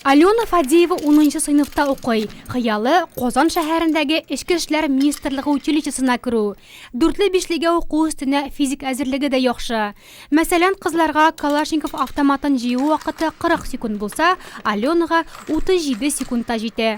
Алена Фадеева унынчы сыйныфта укый. Хыялы, Казан шәһәрендәге Эчке эшләр министрлыгы училищесына керү. Дүртле-бишлегә уку өстенә физик әзерлеге дә яхшы. Мәсәлән, кызларга Калашников автоматын җыю вакыты 40 секунд булса, Аленага 37 секундта җитә.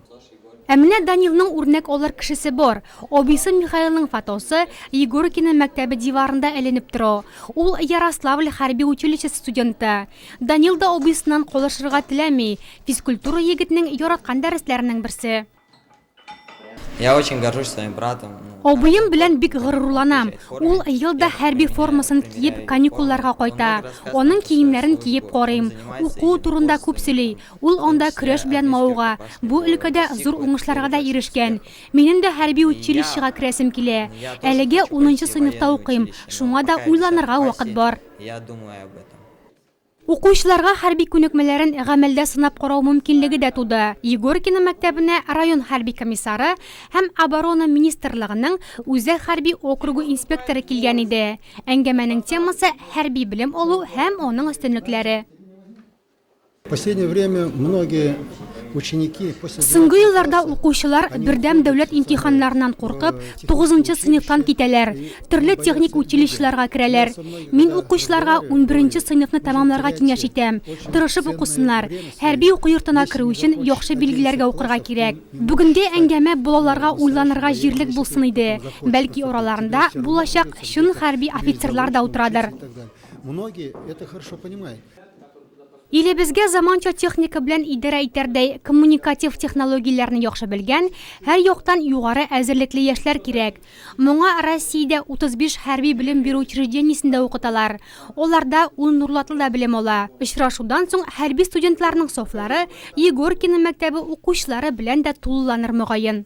Ә менә Данилның үрнәк алыр кешесе бар. Абыйсы Михаилның фотосы Егоркино мәктәбе диварында эленеп тора. Ул Ярославль хәрби училищесы студенты. Данил да абыйсыннан калышырга теләми. Физкультура егетнең яраткан дәресләренең берсе. Я очень горжусь своим братом. Абыем белән бик горурланам. Ул ел да хәрби формасын киеп каникулларга кайта. Аның киемнәрен киеп карыйм. Уку турында күп сөйли. Ул анда көрәш белән мавыга, бу өлкәдә зур уңышларга да ирешкән. Минем дә хәрби училищега керәсем килә. Әлегә унынчы сыйныфта укыйм, шуңа да уйланырга вакыт бар. Укучыларга хәрби күнекмәләрен гамәлдә сынап карау мөмкинлеге дә туды. Егоркино мәктәбенә район хәрби комиссары һәм Оборона министрлыгының Үзәк хәрби округы инспекторы килгән иде. Әңгәмәнең темасы, хәрби белем алу һәм аның өстенлекләре. Соңгы елларда укучылар бердәм дәүләт имтиханнарыннан куркып, тугызынчы сыйныфтан китәләр, төрле техник училищеларга керәләр. Мин укучыларга унберенче сыйныфны тәмамларга киңәш итәм, тырышып укысыннар. Хәрби уку йортына керү өчен яхшы билгеләргә укырга кирәк. Бүгенге әңгәмә балаларга уйланырга җирлек булсын иде. Бәлки араларында булачак чын хәрби офицерлар да утырадыр. Илебезгә заманча техника белән идарә итәрдәй коммуникатив технологияләрне яхшы белгән, һәр яктан югары әзерлекле яшьләр кирәк. Моңа Россиядә 35 хәрби белем бирү учреждениесендә укыталар. Аларда ул Нурлатлы да белем ала. Очрашудан соң хәрби студентларның сафлары Егоркино мәктәбе укучылары белән дә тулыланыр мөгаен.